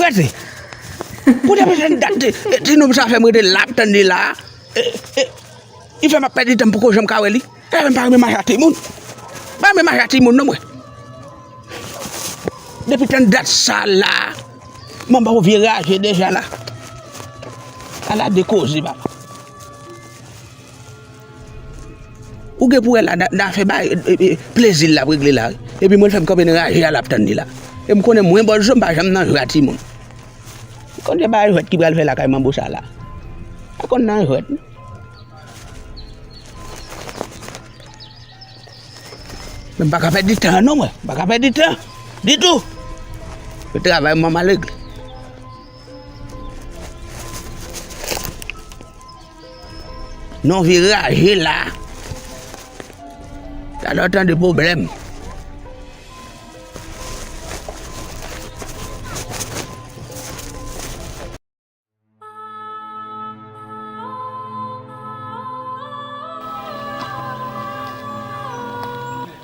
Frèt! Kote mwen jwenn dat ti nonm sa fè m rete la ap tann li la a? Li fè m ap pèdi tan m poko janm ka wè li. Li fè m pa renmen mache ak timoun. M pa renmen mache ak timoun non mwen. Depi tann dat sa la a, manba yon vye raje deja la. Ala de koze papa. Ou gen pou wè la nan afè bay plezi l lap regle la wi epi mwen l fè m kanpe nan raje a lap tann li la e m konnen mwen bòlzo m pa janm nan jwa timoun m konn se pa jwèt ki pral fè lakay manbo sa la pa konn nan jwèt non. Mwen m paka pèdi tan non mwen m paka pèdi tan ditou se travay mwen map regle. Non vi raje la. Sa nan tan de problem.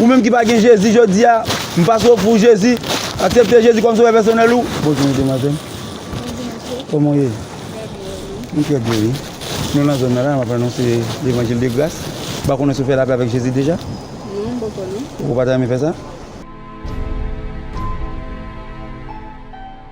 Ou menm ki pa gen Jezi jodi a, m pase ofri w Jezi, aksepte Jezi kòm sovè pèsonèl ou. Bonjou demoiselle. Bonjou mesye. Koman ou ye? Trè byen e nou? M trè byen wi. Nou nan zòn nan la, map anonse levanjil de gras. M pa konnen si w fè lapè avèk Jezi deja? Non, m poko non. Ou pa ta renmen fè sa?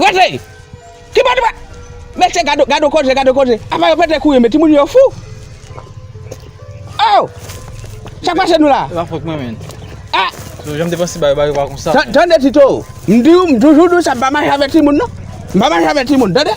Wesley! Ki bò nou pral? Mesye gad yon, gad yon koze, gad yon koze. Apa yo pete kouri men timoun yo fou. Oh! Sak pase nou la? Se pa fòt mwen men. Ah! Tito, janm te panse bagay bagay pa konsa. Tande Tito, m di ou, m toujou di ou sa m pa mache avèk timoun non. M pa mache avèk timoun, tande?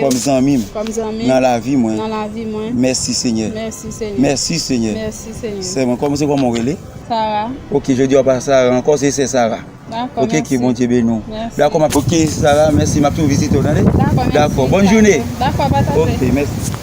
Kòm zanmi m nan lavi mwen mèsi senyè mèsi senyè sè mwen kòm se kòman ou rele ok jodi a ou pa sara ankò se sè sara ok ke bondye beni w dakò map ok sara mèsi map tou vizite w tande dakò bòn joune ok mèsi.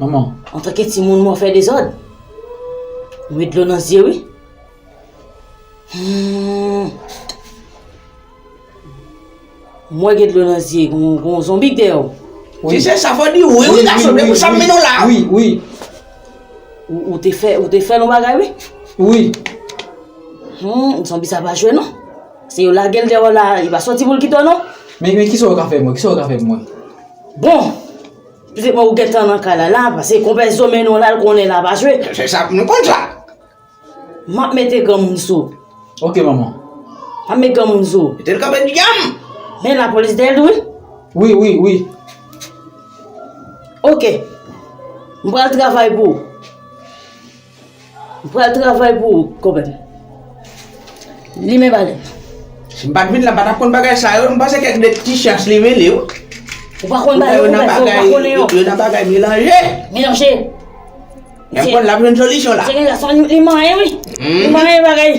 Manman, antanke timoun mwen fè dezòd. Mwen met dlo nan zye wi. Mwen gen dlo nan zye, gon zonbi k dèyè w. Ti se sa fò di wi wi gason, depi sa m mennen w la. Wi, wi. Ou te fè, ou te fè l yon bagay wi. Wi. Zonbi sa pa jwe non. Se yo lage l dèyè w la, li pa sòti pou l kite w non. Men kisa ou ka fè mwen, kisa ou ka fè mwen. Bon! Pete mwen ou gentan nan kay la la pase konpè zo mennen w la l konnen la pa jwe. Se sa nou konn sa. M ap mete granmoun sou w. Ok manman. M ap met granmoun sou w. Mete l kanpe dyanm. Men lapolis dèyè l tou wi. Wi wi wi. Ok. M pral travay pou ou. M pral travay pou ou, kòmèt. Li men balèn. Si m pa t vin la, m pa t ap konn bagay sa yo. M panse kèk de ti chans li rele yo. Ou pa konn bagay yo, kòmèt, paske ou pa konnen yo. Yo nan bagay melanje. Melanje. Lè m konn l ap jwenn solisyon la. Se gen gason li manyen wi. Li manyen bagay.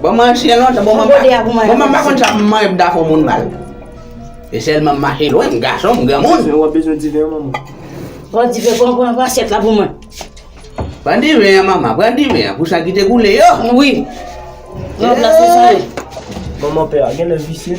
Bon manje lontan, bon mwen pa konn sa manje pou ta fè yon moun mal. Se sèlman mache lwen, m gason, m granmoun. Ou ap bezwen diven an manman? Pran diven, pran pran pran asyèt la pou mwen. Pran diven an manman, pran diven an pou san ki te koule yo. Wi. Pran plas mwen sa yo. Manman pè a genlè visye.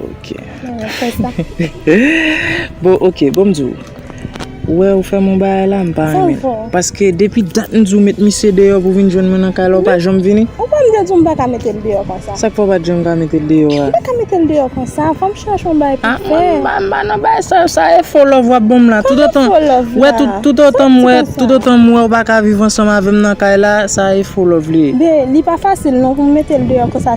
Ok. Bon ok, bon m di w. Ou wè ou fè m yon bagay la m pa renmen. Sa w fè? Paske depi dat m di w met misye deyò pou vin jwenn mwen nan kay la ou pa janm vini. Ou pa m de di w m pa ka mete l deyò konsa? Sa k fè w pa t janm ka mete l deyò a? M pa ka mete l deyò konsa. Fò m chache yon bagay pou fè. A mwen m pa nan bagay sa yo. Sa e fo love w ap ban m la. Tout otan Koman fo love la? Wè tout otan m wè tout otan m wè ou pa ka viv ansanm avè m nan kay la sa e fo love li ye. Ben li pa fasil non pou m mete l deyò konsa.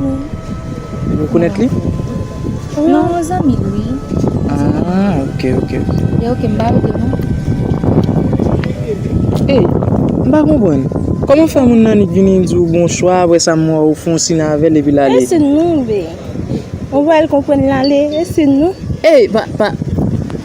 Ou rekonèt li? Non, yon zanmi l wi. Ah, ok, ok. Li ok, m pa rete non. Ey, m pa konprann. Kòman fè moun nan nik vini di w bonswa aprè sa m wè w fon sin avè l epi l ale? E sin nou, bey. Ou wè l konprann l ale, e sin nou. Ey, pa, pa.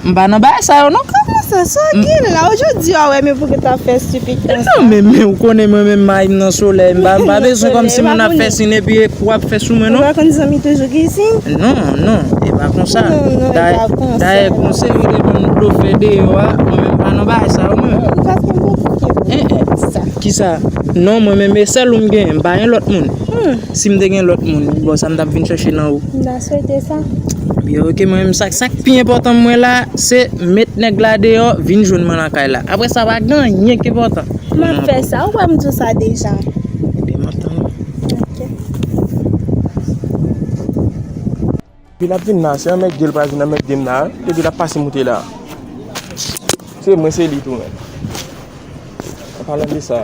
M pa nan bagay sa yo non. Kòman sa? Sa gin la? Ou jus di a wè men pouki ta fè stupid konsa? E non men men ou konnen mwen men mayi m nan solèy m pa m pa bezwen kòm si moun ap fè sin epi ou ap fè sou mwen non. Ou pa konn zanmi toujou gin sin? Non non e pa konsa. Non non e pa konsa. Dayè konsèy ou te ban m blofè deyò a mwen men m pa nan bagay sa yo mwen. Ou pa konn mwen fouke pou mwen pou sa. Kisa? Non mwen men e sèl ou m genyen m pa gen lòt moun. Si m te gen lòt moun bon sa m tap vin chèche nan ou? Da Swete sa? Byen ok mwen menm sak sak pi enpòtan mwen la se met nèg la deyò vin jwenn mwen nan kay la aprè sa pa gen anyen ki enpòtan map fè sa ou wè m diw sa deja ebyen map tann ou ok depi lap vin la se anmède l pral vin anmède m la depi lap pase moute la se mwen se li tou menm an palan de sa.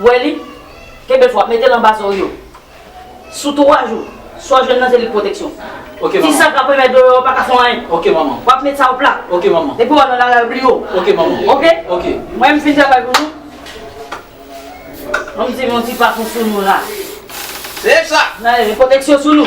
wè li, kenbe fò, mete l anba zo w yo. Sou 3 jou, sa w jwenn nan ze li pwoteksyon. Ti sa k ap renmen dlo yo pa ka fè w anyen. W ap met sa w plat. Depi w al nan lari, bliye w. Ok? Mwen m fin travay pou nou. An m di m yon ti pafon sou nou la. Nan e pwoteksyon sou nou.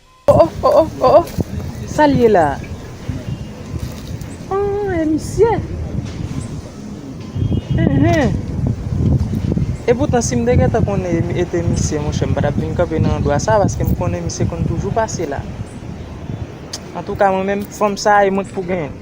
Oh oh oh oh oh oh sal ye la ooh e misye eehh e poutan sim te gentan konnen e te misye monchè m pa tap vin kanpe nan andwa sa paske m konnen misye konn toujou pase la antouka mwen menm fanm sa e mwen k pou genyen l.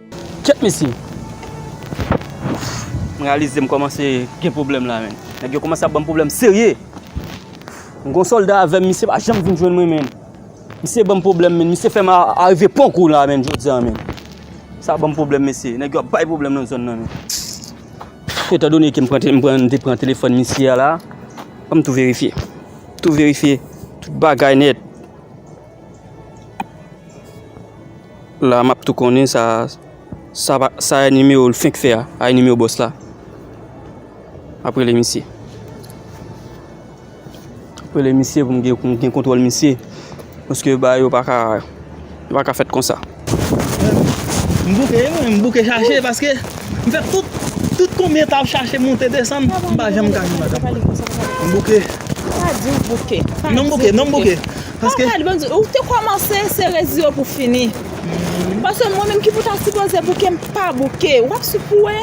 Kyèt mesye! Ouff! M reyalize m kòmanse gen pwoblèm la menn. Nèg yo kòmanse ap ban m pwoblèm serye! M gon sòlda avè m, misye pa janm vin jwenn mwen menn. Misye ban m pwoblèm menn, misye fè m arive pon kou la menn jodi a menn. Sa ban m pwoblèm mesye, nèg yo ap bay pwoblèm nan zòn nan menn. Etan done ke m pran, m pran, m te pran telefòn misye a la, an m tou verifye. M tou verifye tout bagay nèt. La map tou konnen sa sa e nimewo l fenk fè a sa e nimewo bòs la map rele misye map rele misye pou m gen kontwòl misye paske bagay yo paka fèt konsa. M bouke wi mwen, m bouke chache paske m fè tout, tout konbyen etap m chache monte desann m pa janm ka jwenn madanm mwen. M bouke. Pa di w bouke. Non m bouke, non m bouke. Paske. Ou te kòmanse se resi yo pou fini. Paske mwen menm ki pou ta sipoze bouke m pa bouke. Ou ap sou pou wè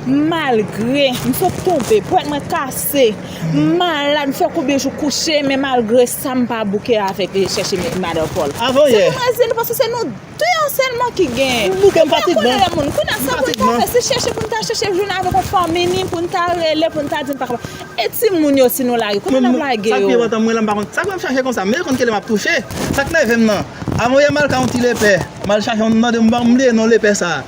malgre m sot tonbe, pwèt mwen kase. M malad, m fè konbyen jou kouche, men malgre sa m pa bouke avèk li chèche met madan Pòl. Avan yè. Se pou mwen di nou paske se nou 2 an sèlman ki gen. M bouke, m fatig menm. Kounye a m konnen lè moun. Kounye a sa pou n ta fè? Se chèche pou n ta chèche jwenn avèk yon fanmi ni pou n ta rele pou n ta di n pa kapab. E timoun yo si nou lage? Kote n ap lage yo? Sa k pi enpòtan mwen la m pa konn. Sa k fè m chache konsa? M rete konn ki lè m ap touche. Sa k nève m nan. Avan yè m al ka yon ti lepè. M al chache yon m mande m bliye non lepè sa.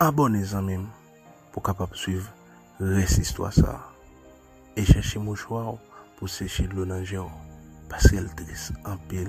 Abòne zanmim pou kapab swiv rès istwa sa e chèche mouchwa w pou seche dlo nan je w paskel tris anpil.